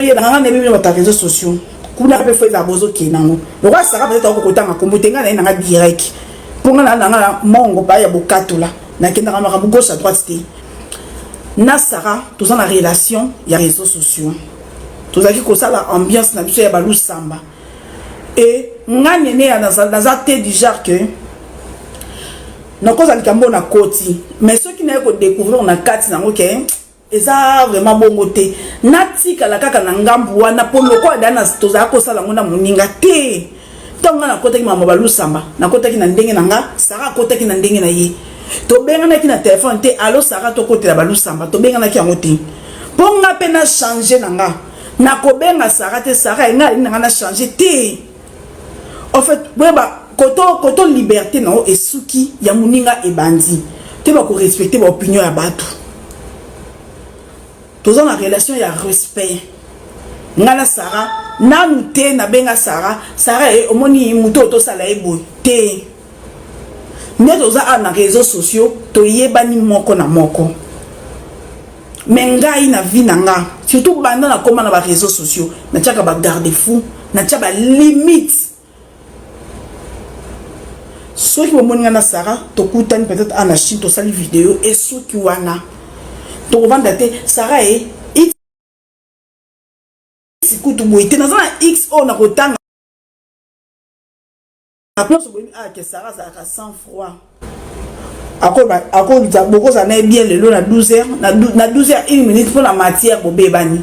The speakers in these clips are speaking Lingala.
yeba nga nebe bino bata réseaux sociaux kuna pe fo eza bozo ke nango lokola saka peut-être ako kotanga kombo te nga na nga direct po nga na nga mongo pa ya bokatola na kenda ka makambo gauche à droite te na saka toza na relation ya réseaux sociaux tozalaki kosala ambiance na biso ya balusamba e nga nene ya naza te du genre que nakozala likambo na koti mais soki naye kodécouvrir na kati nango ke Eza vraiment bongo te natikala kaka na ngambu wana po lokola dana tozala kosala yango na moninga te ntango ngai nakotaki mama balusamba nakotaki na ndenge na nga sara akotaki na ndenge na ye tobenganaki na telefone te alo sara tokotela balusamba tobenganaki yango te mpo nga mpe na change na nga nakobenga sara te sara engai alingi na nga na change te En fait, boyeba koto koto liberté na yo esuki ya muninga ebandi. Te ba ko respecter ba opinion ya batu. Toza na relation ya respect. Nga na Sarah nanu te na benga Sarah, Sarah eh, omoni muto otosala ye boye te. nde toza awa na reseaux sociaux toyebani moko na moko me ngai na vie na nga surtout banda na koma na ba réseaux sociaux natiaka ba garde fou natia ba limite soki bomoni nga na sara tokutani peut-être ana chine tosali video esuki wana tokovanda te sara e kutu boye te naza na x oyo nakotanga En plus, vous ah, que Sarah azalaka sans froid. akolita bokozala na ye bien lelo na 12 heures na 12 heures 1 minute mpo na matière bobebani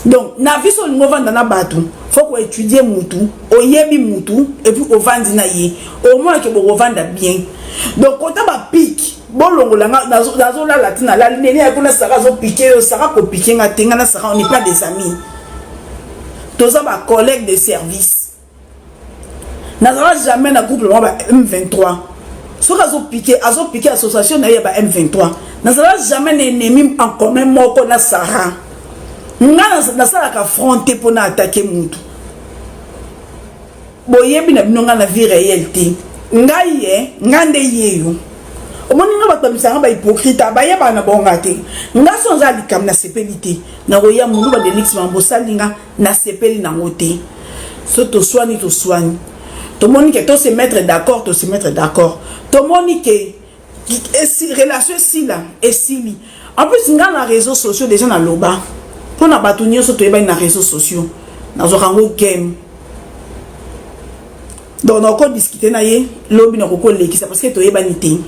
donc na vie so olingi ovanda na bato fo koétudie mutu oyebi mutu epuis ovandi na ye omonake bokovanda bien donc kota bapike bolongola nga nazolala ti nalali nene ya kuna sara azopike yo sara kopike nga te nga na sara on n'est pas des amis toza bacollègue de service nazala jamais na groupe mwa ba m23 soki azopike azopike association na ye ya ba m23 nazala jamais na ennemi en commun moko na sara ngai nasalaka front te mpo na atake mutu boyebi na bino ngai na vie réelle te ngai ye ngai nde yeyo omoni nga bato bamisanga bahypocrite bayebana bonga te nga so oza likambo nasepeli te nakoya moluba delix mambo osali nga Nasepeli nango te. So toswani toswani. Tomoni ke to se mettre d'accord to se mettre d'accord. Tomoni ke esi relation esila esili. En plus nga na réseaux sociaux déjà na loba. Pona bato nyoso toyebani na réseaux sociaux. Nazwaka yango game. Donc na ko discuter na ye lobi na ko lekisa parce que toyebani te.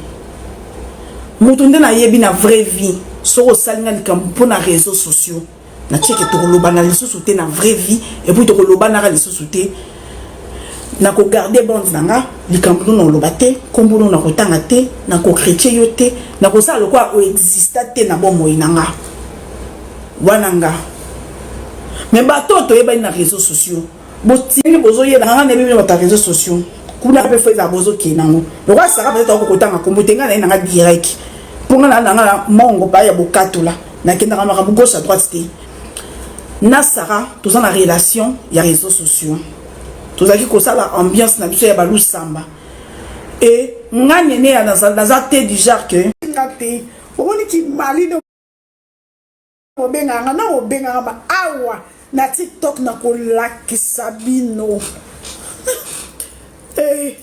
Moto nde nayebi na vraie vie. Soko osalinga likambo pona réseaux sociaux. na tieke tokolobana lisusu te na vraie vie epuis tokolobanaka lisusu te nakogarde bande na nga likambo no nakoloba te nkombo no nakotanga te nakokritie yo te nakosala lokola oexista te na bomoi na nga wana nga me bato oyo toyebani na réseau sociaux botienge bozo yela nga na bino ba réseaux sociaux kuna pe fo eza bozo ke nango lokola saka peut-être ako kotanga kombo tenga na nga direct pona na na nga mongo pa ya bokatula na kenda ka makambo gauche à droite te na saka toza na relation ya réseaux sociaux tozalaki kosala ambiance na biso ya balusamba e nga nene ya naza te du genre que nga te omoni kimali Bobengaka nga na bobengaka ma awa na tiktok na kolakisa bino eh.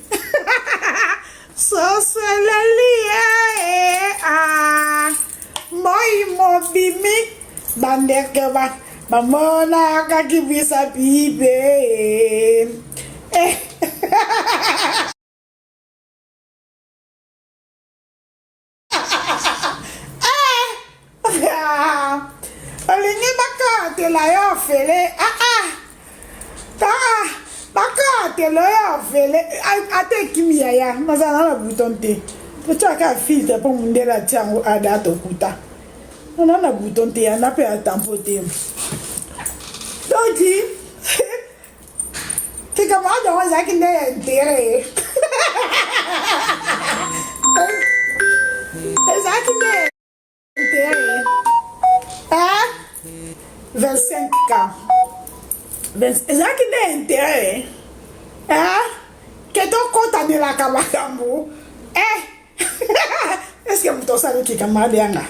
sosoleli eh, ah. moi mobimi bandeke ba bamonaka kibisa bibe eh. olingi bakatela yo ofele ah, ah. ah, bakatela yo ofele ata ekimi yaya mazala na buton te totyaka filtre mpo mondele atya yango ada tokuta ona na buton te yana mpe atampo te donc likambo wana yango ezalaki nde ya intere ye ezalaki nde ya intere ye 25 k ezalaki nde ya intere ye ke tokotanelaka makambo eh Est-ce que moto osali ki camarade yanga?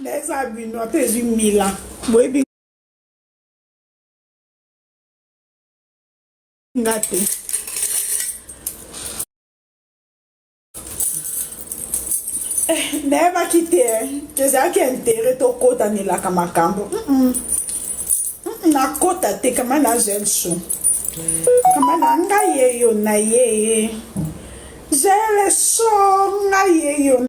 Na eza bino ata ezwi mila. Boyebi nga te. nayebaki te ezalaki intere tokotanelaka makambo nakota te kama na zelso kama na nga yeyo na yeye zelso nga yeyo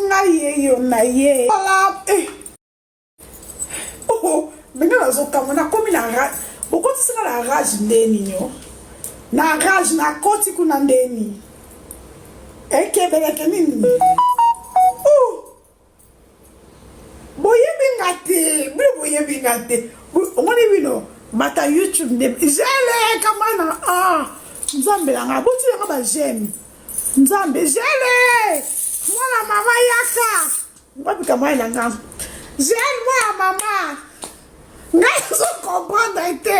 nga yeyo na ye ala eh. oh, benge nazokama nakomi na rage okotisi nga na rage nde nini o na rage nakoti kuna nde nini ekebeleke nini oh. boyebi nga te bino boyebi nga te omoni bino bata youtube nde jeleka mana a ah, nzambe na nga botila nga bajeme nzambe jele mwana mama yaka ngwabika mai na nga jele mwana mama ngai nazo comprendre te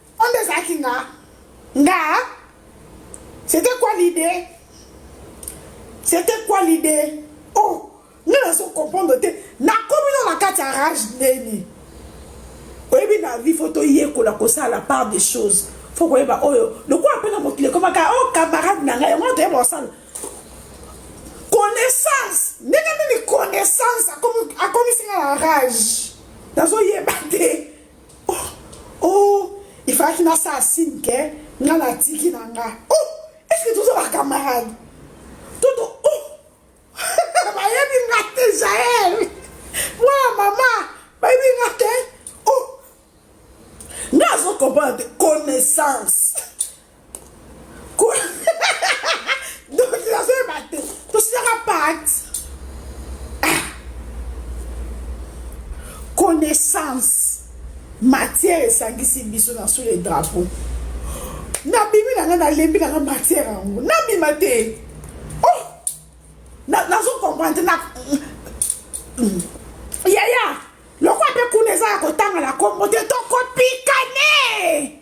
Oyo ezalaki nga nga c'était quoi l'idée c'était quoi l'idée oh nga nazo comprendre te nakomi no na kati ya rage ndeni oyebi na vie fo toyekola kosala la part des choses fo koyeba oyo lokola mpe na mokili ekomaka o oh, camarade na ngai yango toyeba kosala connaissance ndenge nini connaissance akomisi nga na rage nazoyeba te Oh oh il fallaki na sa signe que nga na tiki na nga. Oh est-ce que toza ba camarades? Toto oh bayebi nga te Jael. Mwana mama bayebi nga te. Oh nga azo comprendre connaissance. connaissance matière esangisi biso na sous le drapeau nabimi na ngai nalembi na ngai matière yango nabima te oh nazo comprendre na yaya lokola mpe kuna eza ya kotanga na kombo te tokopikane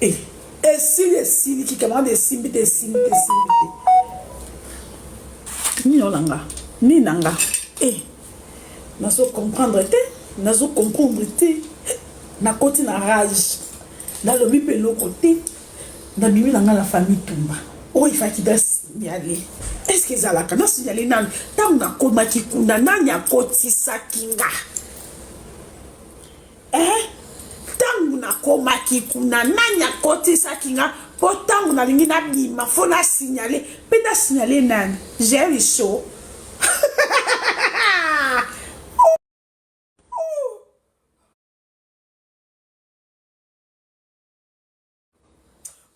Eh, esili esiliki camarade esimbi te esimbi te esimbi te nini oyo na nga nini na nga e nazo comprendre te nazo comprendre te nakoti na rage nalobi mpe eloko te nabimi na nga na famille tumba oyo oh, efaki da signale est ce que ezalaka na signale nani ntango nakomaki kuna nani akotisaki nga eh, ntango nakomaki kuna nani akotisaki nga mpo ntango nalingi nabima fo nasignale mpe nasignale nani jericho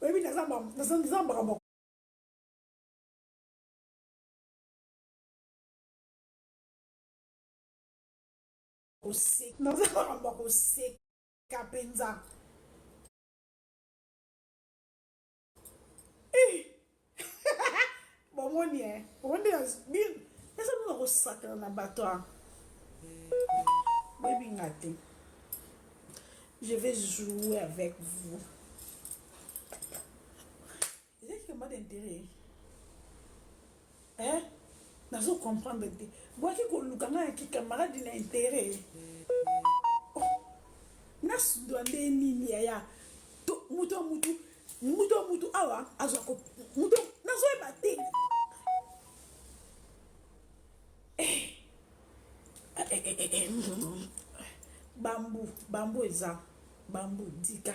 oyebi naza mbaka koseka naza makambo ya koseka mpenza bomoni e omoni eza nuna kosakana na bato a boyebi nga te je vais jouer avec vous Eza ki combat d'interet eh nazo comprendre te boyaki koluka ngai ya kikamaradi na interet oh, nasundwa nde nini yaya moto ya motu moto ya motu awa azwa moto nazoyeba te bambu bambu eza bambu dika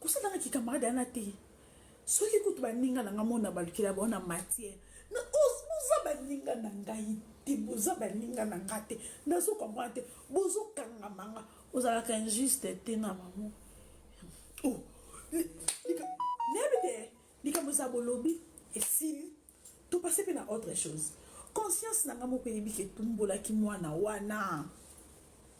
kosala na kikamarade yana te soki kutu baninga na nga mona balukela bao na matière na boza baninga na ngai te boza baninga na nga te nazo comprendre te bozokangama nga ozalaka injuste te na mamo oh, nayebi te likambo eza bolobi esili To passe pe na autre chose. Conscience na nga moko eyebi ke tumbolaki mwana wana.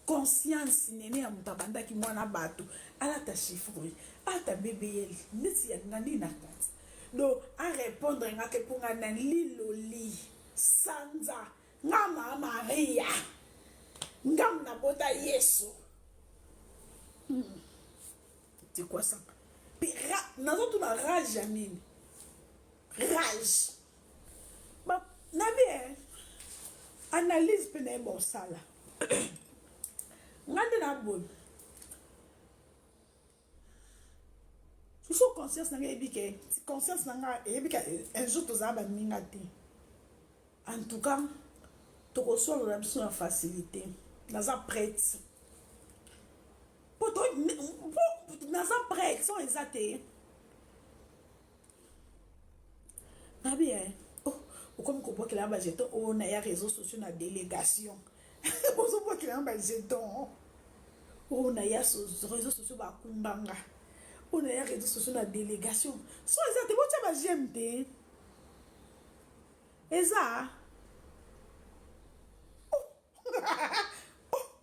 Conscience nene ya moto abandaki mwana batu alata chiffre ata BBL neti ya nga nini na kati. Donc a repondre nga ke po nga na liloli sanza nga ma Maria nga na bota Yesu. Hmm. C'est quoi ça? Pe ra, nazo tuna rage ya nini? rage ba na bien analyse pe na bon sala ngande na bon il faut conscience na ngai ebike conscience na ngai eyebika un jour tozala baninga te en tout cas tokosolola biso na facilité naza prête naza prête son eza te nabi eh, oh, okomi kobwakela na bajeton oyo oh, na ya réseau sociaux na délégation ozobwakela na bajeton oyo oh, na ya réseau sociaux bakumbanga oyo na ya réseau sociaux na délégation so eza te botya bajeme te eza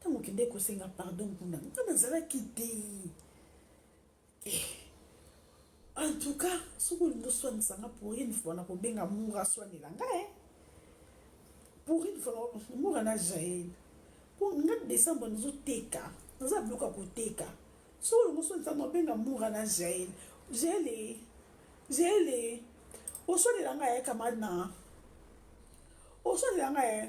Tango okendeki kosenga pardon kuna, nga nazalaki te. Eh. En tout cas, soki olingi oswanisa nga pour une fois na kobenga Moura aswanela nga eh. Pour une fois Moura na Jael. Po nga décembre nazo teka, naza biloko ya koteka. Soki olingi oswanisa nga obenga Moura na Jael. Jael eh. Jael eh. Oswanela nga eh camarade na. Oswanela nga eh.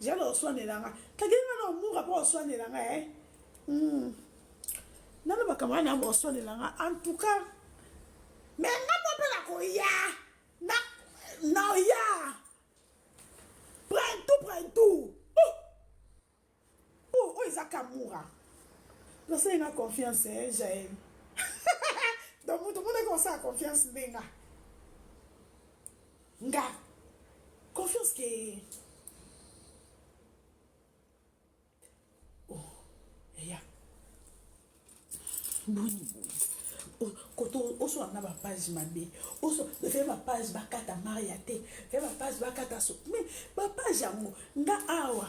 Jade oswanela nga. Kagere nga na omura po oswanela nga eh. Hmm. Nana bakamara na oswanela nga. En tout cas, mais nga mo pe na koya. Na na ya. Prends tout, prends tout. Oh. Oh, oh eza kamura. Nasali nga confiance eh, Jael. Donc mutu mona ko sa confiance ndenga. nga confiance ke oh eya boni boye koto oswa na bapage mabe oswa fe bapage bakata maria te fe bapage bakata so mais bapage yango nga awa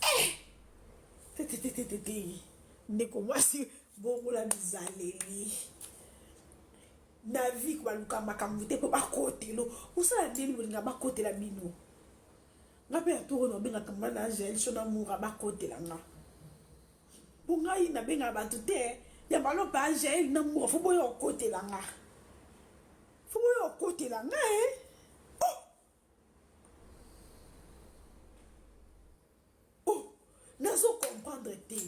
Eh! Tetetetetete. Ndeko mwasi bongola bizaleli. Na vie baluka makambo te mpo bakotelo. Osala ndenge bolinga bakotela bino. Nga mpe ya toro na obengaka nga na Angel Shona Mura bakotela nga. Mpo ngai nabengaka bato te ya balopa Angel na Mura fo boya okotela nga. Fo boya okotela nga eh. oh nazo comprendre te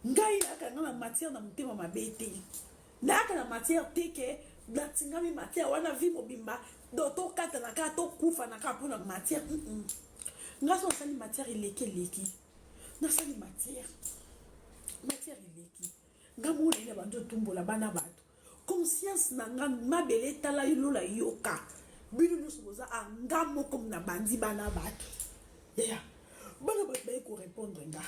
ngai nayaka nga na matière na motema mabe te nayaka na matière te ke natingami matière wana vie mobimba do tokatana kaka tokufa na kaka mpo na matière mm -mm. nga so nasali matière eleki eleki nasali matière matière eleki nga mona ina bandi otumbola bana bato conscience na nga mabele etala yo lola yoka bino nyonso boza a nga moko na bandi bana bato ya bana bato baye korepondre nga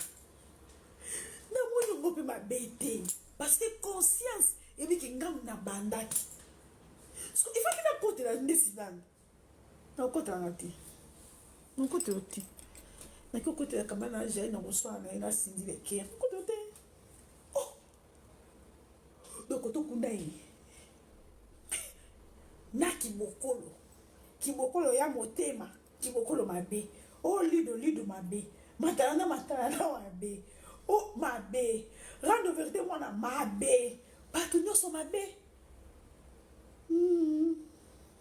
namoni yango mpe mabe te parce que conscience ebiki ngambo na bandaki so ifaki nakotela ndesi nanga nakokota nanga te nakokota yo te naki okotela kaba na jai na koswana na ye na sindi leke nakokota yo te oh! dokoto kunda ye na kibokolo kibokolo ya motema kibokolo mabe o oh, lido lido mabe matala na matala na mabe o oh, mabe rando verité mwana mabe bato nyonso mabe mm.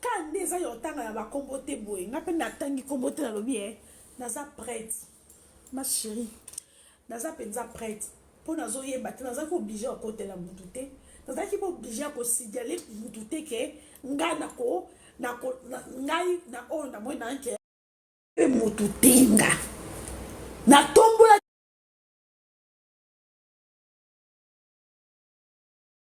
Car nde eza ya otanga na bakombo te boye nga mpe natangi kombo te nalobi e naza prête ma chérie naza mpenza prête mpo nazoyeba te nazalaki oblige ya kotela motu te nazalaki mpe oblige ya kosignale motu te ke ngai nako ngai na oyo namoi nanke mpe motu te nga natombola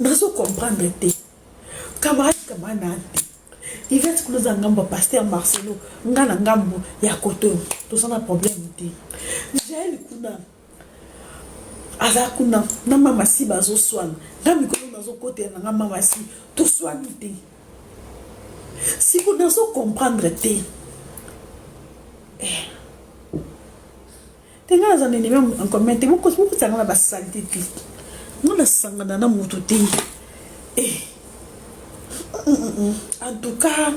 nazo comprendre te camarade camarade na te Yvette Kuluza ngambo ya Pasteur Marcelo nga na ngambo ya Koto toza na problème te Jael kuna aza kuna na mama si bazoswana nga mikolo nazokotela na nga mama si toswani te siko nazo comprendre te eh. te nga naza na enemi en commun te bokosanga na basalite te nga nasangana na moto te eh. en tout cas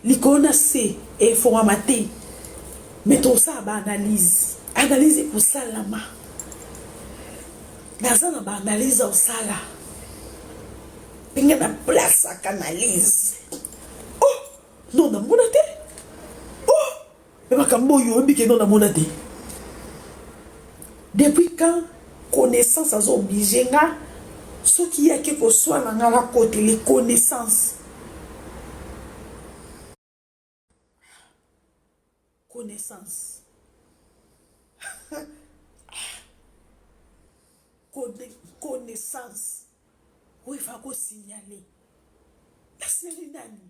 likolo na se efongama te me tosala baanalyse analyse ekosalama naza na baanalyse osala ndenge na place ya canalise oh non namona te Mais makambo oyo oyebi que non na mona te depuis quand connaissance azo oblige nga soki ye ake koswana nga na kote les connaissances connaissance connaissance oyo efa ko signaler na seli nani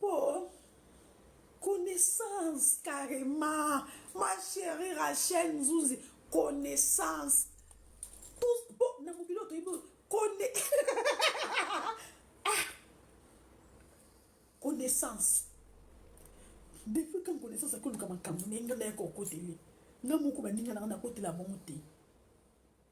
Po connaissance carrement ma cherie Rachel Nzunzi connaissance tous po na mokili oyo toyebi kone ah! connaissance depuis quand connaissance akoluka makambo ndenge naye kokoteli nga moko baninga nanga nakotela bango te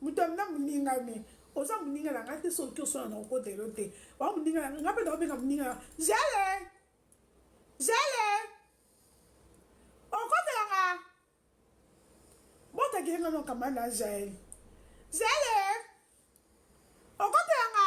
Moto ya nga moninga me oza moninga na nga te soki oki oswana na kokota elo te oa moninga na nga mpe na obenga moninga na zele zele okotela nga botakele nga nokamba na jael zele okotela nga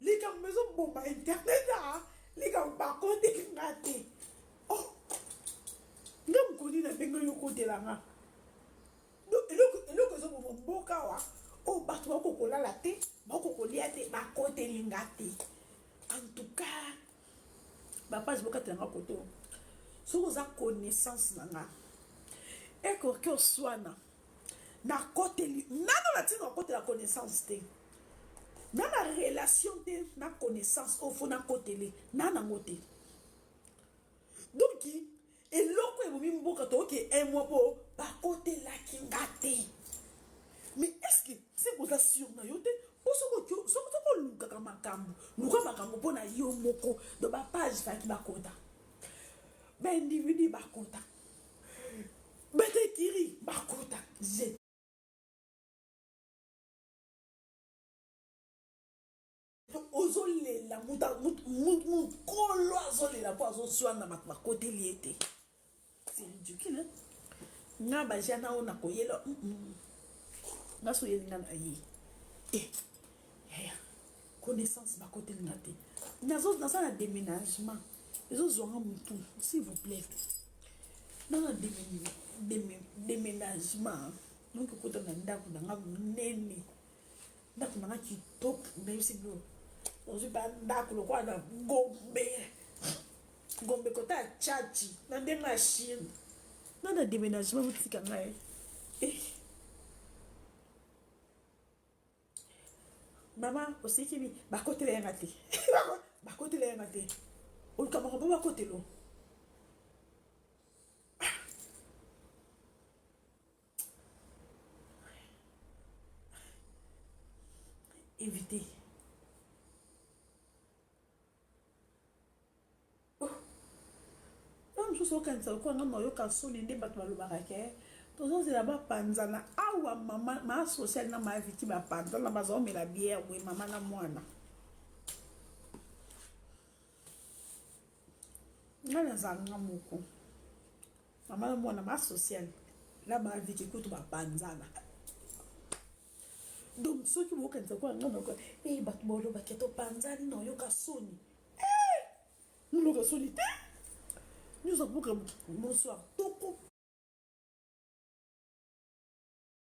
Likambo ezo boma internet a ah, likambo ba koteki nga te. Oh. Nga mokoni na ndenge yo kotela nga. Donc eloko eloko ezo boma mboka wa o oh, bato bako kolala te, bako kolia te, ba koteli nga te. En tout cas, ba page bokatela nga koto. Soki oza connaissance na nga, eko ke oswana. na koteli nano na tina kotela connaissance te na na relation te na connaissance oyo fo nakotele na nango te donki eloko ebomi mboka toyoki emwa mpo bakotelaki nga te mais estce se koza sur na yo te mpo soki olukaka makambo luka makambo mpo na yo moko do bapage faki bakota baindividu bakota bata ekiri bakota je ozolela mokolo azolela mpo azozwana na bato bakoteli ye te c'est ridicule nga baja na oyo nakoyela nga soyelinga na ye eh, eh. connaissance bakoteli nga te naza na déménagement ezozwanga motu s'il vous plaît naza na déménagement donc okota na ndako na nga monene ndako na nga kitoko nayebisi bino ozwi ba ndako lokola na gombe gombe kota ya chachi na ndenge ya chine na na déménagement botika ngai eh. mama osikimi bakotela yanga te bakotela yanga te oluka bango mpo bakotelo éviter Ntango mosusu okanisa lokola ngai nayoka nsoni nde bato balobaka ke tozozela bapanzana awa mama maa social na maa viti bapanzana bazaomela biere boye mama na mwana ngai nazanga moko mama na mwana maa social na maa viti kutu bapanzana donc soki bokanisa kwa ngai noko e eh, bato bolobake topanzani nayoka soni Eh! Muloka soni te. Nyoza buka bonsoir toko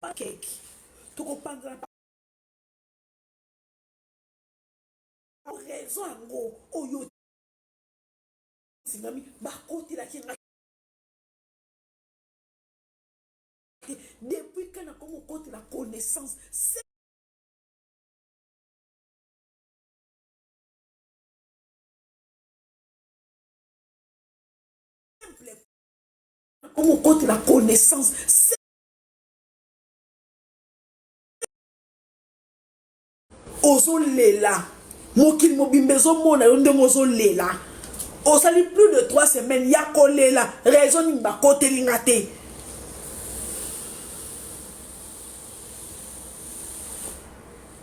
pa keki toko panzana raison yango oyo tingami bakotelaki nga depuis kana komo kotela connaissance la connaissance ozolela mokili mobimba ezomona yo ndenge ozolela osali plus de 3 semaines ya kolela raison nini bakoteli nga te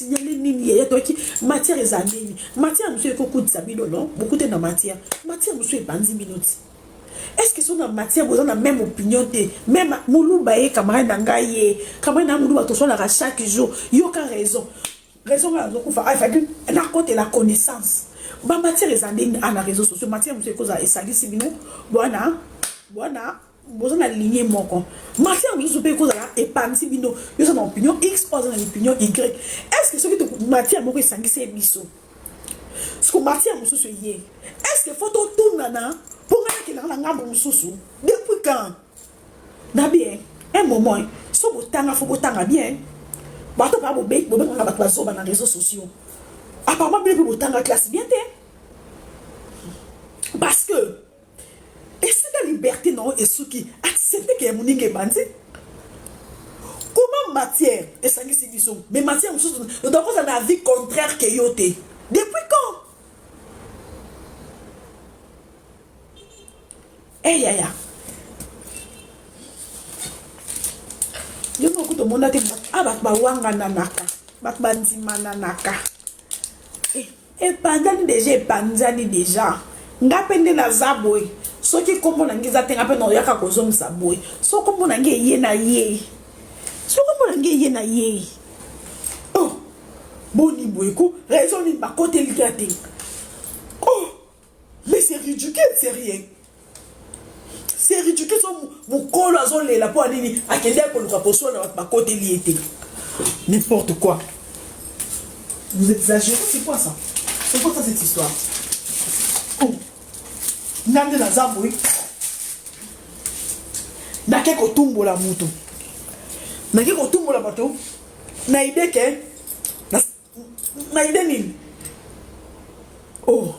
signale nini yaya toyaki matière eza nini matière mosusu ekokutisa bino no bokute na matière matière mosusu epanzi bino ti est-ce que so na matière boza na même opinion te même muluba ye camarade na ngai ye camarade na muluba tosolaka chaque jour yoka raison raison ngai azokufa afaki ah, nakotela connaissance bamatière eza ndenge ana réseau sociaux matière mosusu ekozala esalisi bino bwana bwana boza na ligne moko marché ya mosusu mpe ekozala epanzi bino yoza na opinion x oyo aza na opinion y est ce que soki matière moko esangisi ye biso siko matière mosusu eye est ce que fo totungana mpo ngai nakendaka na ngambo mosusu depuis quand na bien un moment so botanga fo botanga bien bato baa bobengaka bato bazoba na réseau sociaux apparemment bino mpe botanga classe bien te parce que Esika liberte na yo esuki, accepte que ya moninga ebandi. Comment matière esangisi biso, mais matière mosusu oza kozala na avis contraire que yo te. Depuis quand? Eh yaya. Yo moko kutu omonaki ah bato bawangananaka, bato bandimananaka. Epanzani dejà epanzani dejà nga pe nde naza boye soki kombo na nga eza te nga pe nao yaka ko zongisa boye soki kombo na nga eye na yei soki kombo na nga eye na yei oh boni boye ko raison nini ba koteli nga te. Mais c'est ridicule, c'est rien. C'est ridicule, son mukolo azo lela po anini akende akoluka kosuana na ba kote liye te. N'importe quoi. Vous exagérez, c'est quoi ça C'est quoi ça cette histoire Oh Nande na zambo, oui. Nake kotumbola mutu. Nake kotumbola bato. Na idée que Mayele nini? Oh.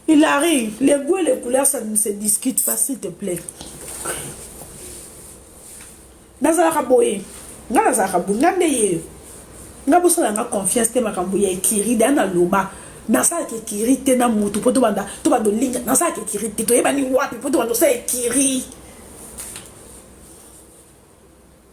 Hilary, les goûts et les couleurs, ça ne se discute pas, s'il te plaît. nazalaka boye nga nazalaka boye nga nde ye nga bosala nga confiance te makambo ya ekiri da naloba nasalaka ekiri te na motu mpo tobanda tobanda olinga nasalaka ekiri te toyebani wapi mpo tobanda osala ekiri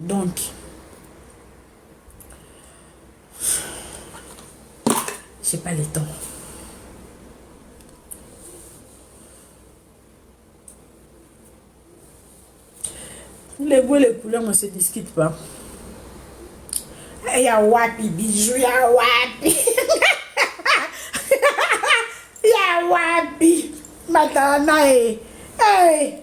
donc j'ai pas le temps les goûts les couleurs ne se discutent pas eh, ya wapi bijou ya wapi ya wapi matana e eh. hey. Eh.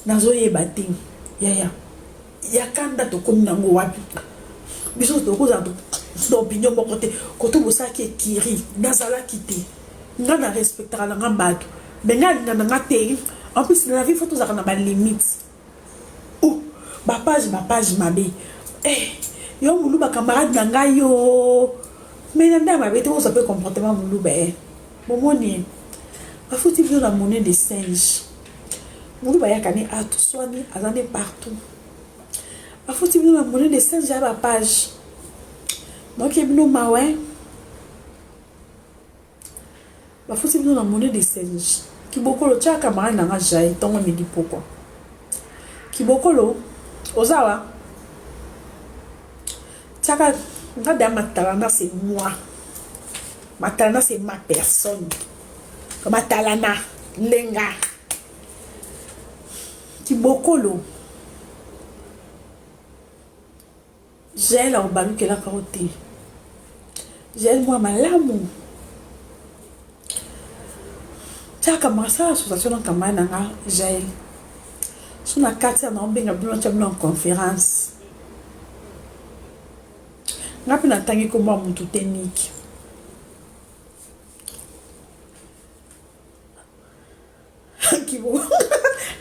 nazoyeba te yaya ya kanda tokomi nango wapi biso tokozala na opinion moko te koto bosalaki ekiri nazalaki te nga na respectaka na nga bato me nga alinga na nga te en plus na la vie fo tozalaka na balimite Ooh ba page ba page mabe eh yo muluba camarade na ngai yoo mais na nda mabe te bozwa pe comportement muluba eh bomoni eh bafuti bino na monnaie de singe muluba yaka ne atu swani aza ne partout bafuti bino na monnaie de singe ya ba page donc ye bino mawa eh Bafuti bino na monnaie de change. Kibokolo tia camarade na nga Jae tongo midi pokwa. Kibokolo oza wa tiaka nga da matalana c'est moi. Matalana c'est ma personne. Matalana lenga. Kibokolo. Jael akobalukelaka yo te. Jael mwa malamu. Tiaka masala association na camarade na nga Jael. So na kati ya na obenga bino tia bino en conférence. Nga mpe natangi kombo ya motu te niki.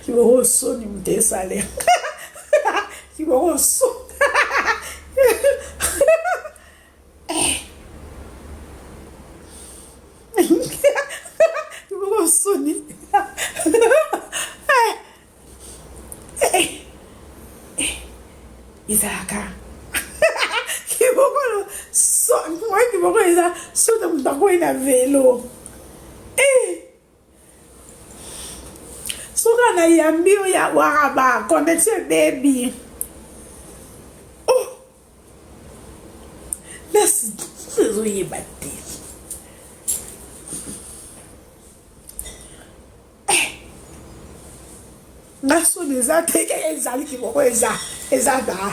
kiboko soni moto esale kiboko so kiboko soni ezalaka kibokolo so moye kibokolo eza soki moto akwei na velo Suka na yambi yo ya waraba connexion ebebi oh merci ezo yeba te eh. nga soni eza te keke ezali kimoko eza eza daa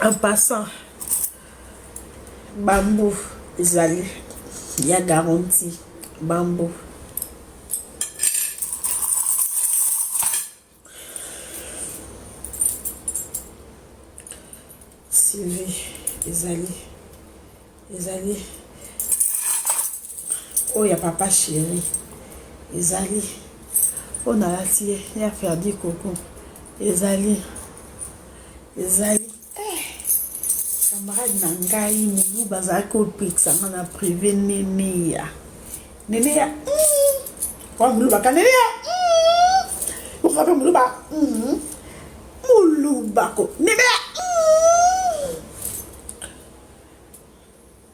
En passant, bambou ezali ya garantie. Bambou. Sylvie ezali ezali Oyo ya papa chéri ezali oyo nalati ye ya ferdi koko ezali ezali eh, camarade na ngai mulu bazalaki kopekisa nga na prive neneya neneya mm, wa mulubaka neneya mm, oka mpe muluba mm, mulubako neneya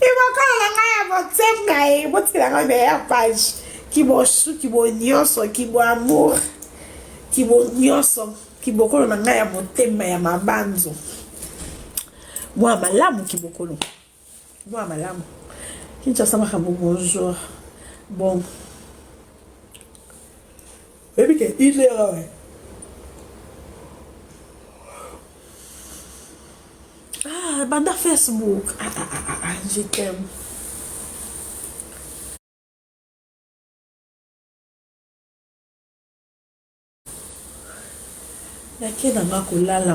Libokolo na ngai ya botem na ye botela ngai meilleur page kibosu kibo nyonso kibo amour kibo nyonso kibokolo na ngai ya motema ya mabanzo mwa malamu kibokolo mwa malamu kinshasa makambo bonjour bon Oyebi ke Hitler awa eh. Ah, banda Facebook. Ah, ah, ah, ah, ah je t'aime. nake na nga kolala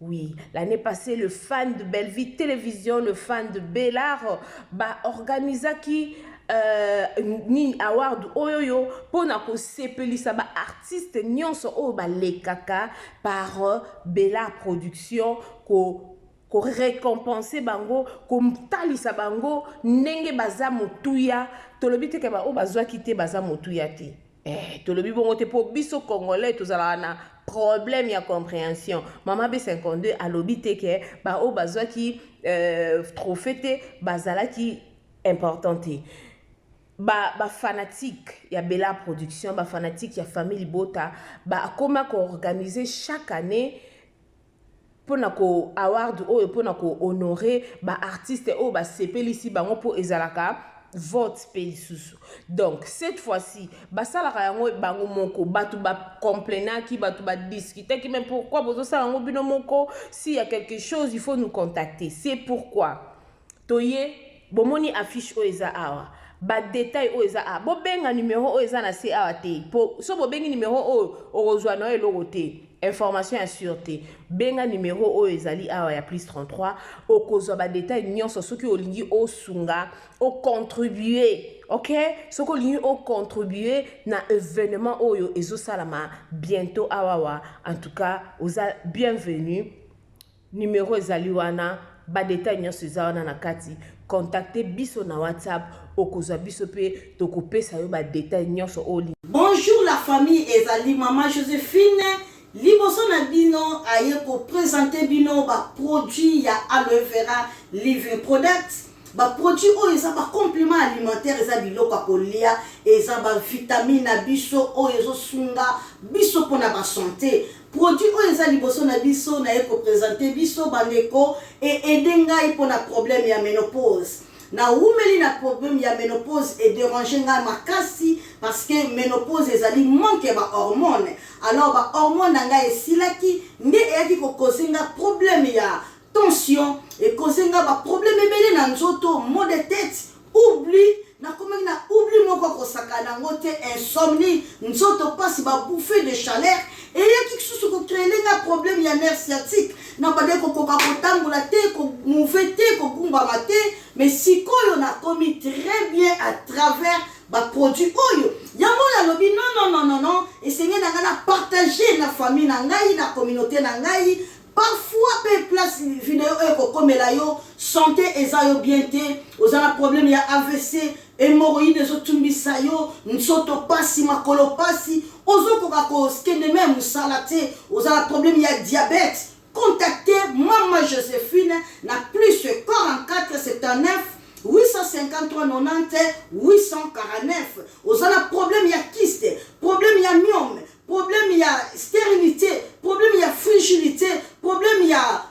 Oui l'annee passee le fan de Bellevue television le fan de Bel'art ba organisaki Euh, nini award oyo yo mpo na kosepelisa baartiste nyonso oyo balekaka par euh, bela production ko korécompense bango kotalisa bango ndenge baza motuya tolobi te ke baoyo bazwaki te baza motuya te Eh, tolobi bongo te po biso congolais tozalaka na problème ya comprehension mama b52 alobi te ke baoyo bazwaki euh, trophée te bazalaki important te bafanatique ba ya bela production bafanatique ya famille libota bakoma koorganize chaque année pona ko award oyo pona ko honore ba artistes oyo ba sepelisi bango po ezalaka vote pe lisusu donc cette fois ci basalaka yango bango moko batu ba complenaki batu ba discutaki mais pourquoi bozosala yango bino moko si ya quelque chose il faut nous contacter c'est pourquoi Toye, bomoni affiche oyo eza awa? Ba details oyo eza awa, bobenga numero oyo eza na se awa te, po soki bobengi numero oyo, okozua na yo eloko te, information ya sur te. Benga numero oyo ezali awa ya plus 33, okozua ba details nionso soki olingi osunga, o contribuer, ok? Soki olingi o contribuer na evenement oyo ezosalama bientot awawa, en tout cas, oza bienvenue. Numero ezali wana, ba details nionso eza wana na kati, contacter biso na WhatsApp, okozwa biso mpe tokopesa yo ba details nionso oyo olingi. Bonjour la famille ezali maman Josephine liboso na bino aye ko presenter bino ba produits ya aloe vera living products ba produits oyo eza ba complement alimentaire eza biloko ya kolia eza ba vitamine na biso oyo ezo sunga biso pona ba sante Produit oyo eza liboso na biso naye ko presenter biso ba ndeko e aider ngai pona problème ya menopause. Na wumeli na problème ya menopause e deranger ngai makasi parce que menopause ezali manque ya ba hormones alors ba hormones na ngai esilaki nde eyaki ko causer ngai problème ya Tension e cause nga ba problème ebele na nzoto, maux de tete, oubli nakomaki na oubli moko kosaka nango te insomnie nzoto pasi ba bouffée de chaleur eyaki kisusu ko créer nga problème ya nerf sciatique na bande kokoka kotambola te ko mouve te kogumbama te mais sikoyo nakomi très bien à travers ba produits oyo yango nalobi non non non non non esengeli na ngai na partager na famille na ngai na communauté na ngai Parfois pe place video oyo ekokomela yo sante eza yo bien te, oza na problème ya avc, hemorroïde ezo tumbisa yo, nzoto pasi, makolo pasi, ozo koka ko kende meme musala te, oza na problème ya diabète, contacter mama Josephine na plus 44 79 853 90 849. Oza na problème ya kyste, problème ya myome, problème ya stérilité problème ya frigilité problème ya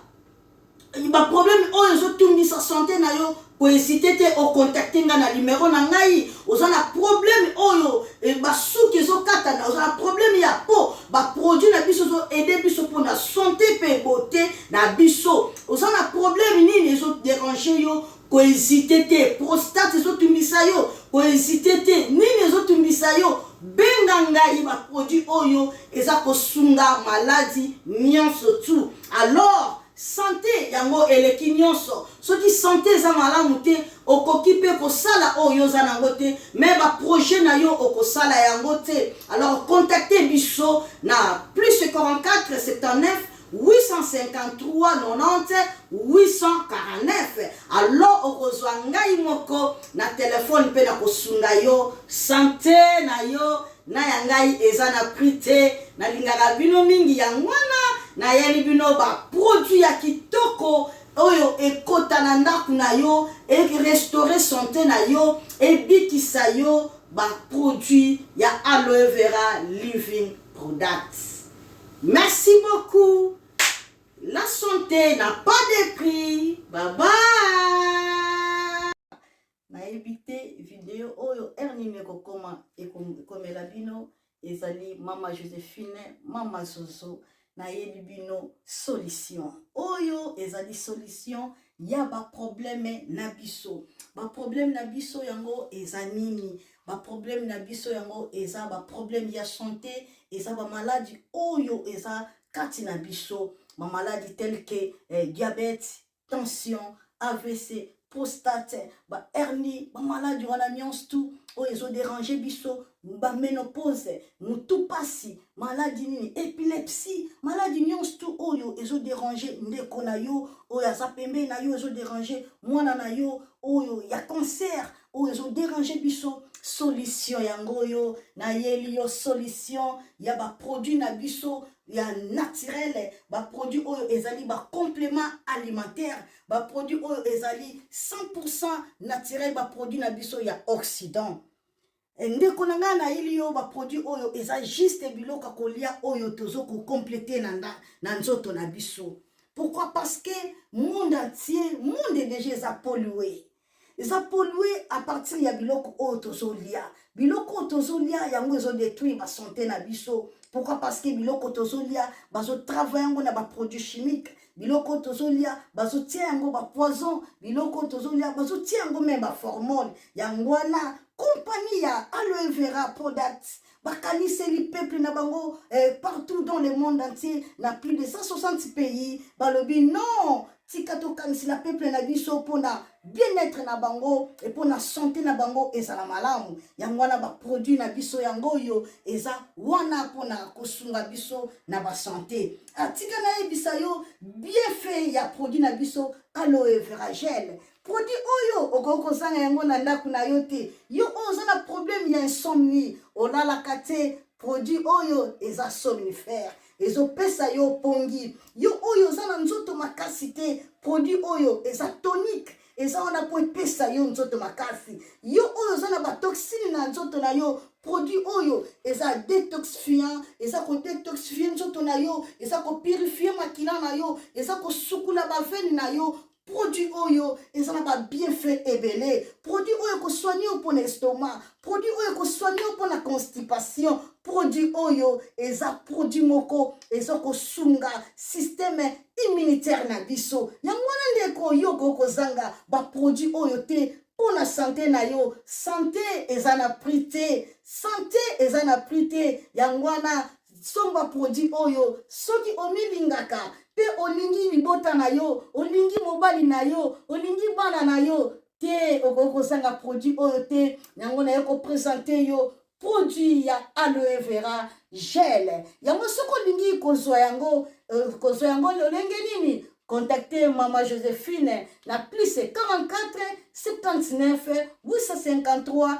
baproblème oyo ezotungisa sante na yo koezite te okontakte ngai na nimero na ngai oza na problème oyo eh, basuki ezokatana oza na problème ya po baproduit na biso ezoede biso mpona sante mpe bote na biso oza na problème nini ezoderange yo Ko hesiter te, prostate ezo tungisa yo? Ko hesiter te, nini ezo tungisa yo? Benga ngai ba produits oyo eza ko sunga maladi nionso tu alors sante yango eleki nionso. Soki sante eza malamu te okoki pe ko sala oyo yo oza nango te mais ba projets nayo oko sala yango te alors contacter biso na plus 44 79 853 90 849 alo okozwa ngai moko na telefone mpe nakosunga yo sante na yo na ya ngai eza na prix te nalingaka bino mingi yango wana nayeli bino baproduit ya kitoko oyo ekota na ndako na yo erestaure sante na yo ebikisa yo baproduit ya aloe vera living products Merci beaucoup la sante na pas de prix baba nayebi te video oyo heure nini ekokoma ekomela bino ezali mama josephine mama zozo nayebi bino solution oyo ezali solution ya baprobleme na biso baprobleme na biso yango eza nini ba problème na biso yango eza ba problème ya santé eza ba maladi oyo eza kati na biso ba maladi tel que eh, diabète tension avc prostate ba hernie ba maladi wana nyonso tout oyo ezoderange biso baménopause motu mpasi maladi nini epilepsie maladi nyonso tu oyo ezoderange ndeko na yo oyo aza pembeni na yo ezoderange mwana na yo oyo ya cancer oyo ezo déranger biso solution yango oyo nayeli yo solution ya baproduit na biso ya naturele baproduit oyo ezali bacomplément alimentaire baproduit oyo ezali 100 naturel baproduit na biso ya occident eh, ndeko na ngai nayeli yo baproduit oyo eza juste biloko ya kolia oyo tozo kocomplete na, na, na nzoto na biso pourquoi parce que monde entier monde deja eza polue eza polue à partir ya biloko oyo tozolia biloko oyo tozolia yango ezodetruire basante na biso pourquoi parce que biloko tozolia bazotravaille yango na baproduit chimique biloko tozolia bazotia yango bapoison biloko tozolia bazotia yango meme baformone yango wana kompani ya aloe vera product bakaniseli peuple na bango eh, partout dans le monde entier na plus de 160 pays balobi non tika tokanisela peuple na biso mpona bien-être na bango e mpona sante na bango ezala malamu yango wana baproduit na biso yango oyo eza wana mpona kosunga biso na basante atika ah, nayebisa yo bienfait ya produit na biso aloe veragele produit oyo okoki kozanga yango na ndako na yo te yo oyo oza na problème ya insomnie olalaka te produit oyo eza somnifère ezopesa yo pongi yo oyo oza na nzoto makasi te produit oyo eza tonique eza wana mpo epesa yo nzoto makasi yo oyo oza na batoxine na nzoto na yo produit oyo eza detoxifiant eza kodetoxifie nzoto na yo eza kopurifie makila na yo eza kosukula bavene na yo produit oyo eza na babienfait ebele produit oyo ekosoigne yo mpo na estomac produit oyo ekosoigne yo mpo na constipation produit oyo eza produit moko eza kosunga systeme immunitaire na biso yango wana ndeko yo okoki kozanga baproduit oyo te mpo na sante na yo sante eza na prix te sante eza na prix te yango wana Somba produit oyo soki omilingaka mpe olingi libota na yo, olingi mobali na yo, olingi bana na yo te, okoki kozanga produit oyo te. Yango naye kopresente yo produit ya aloe vera gel. Yango soki olingi kozwa yango, euh, kozwa yango lolenge nini? Contactez Mama Josephine na plus 44 79 853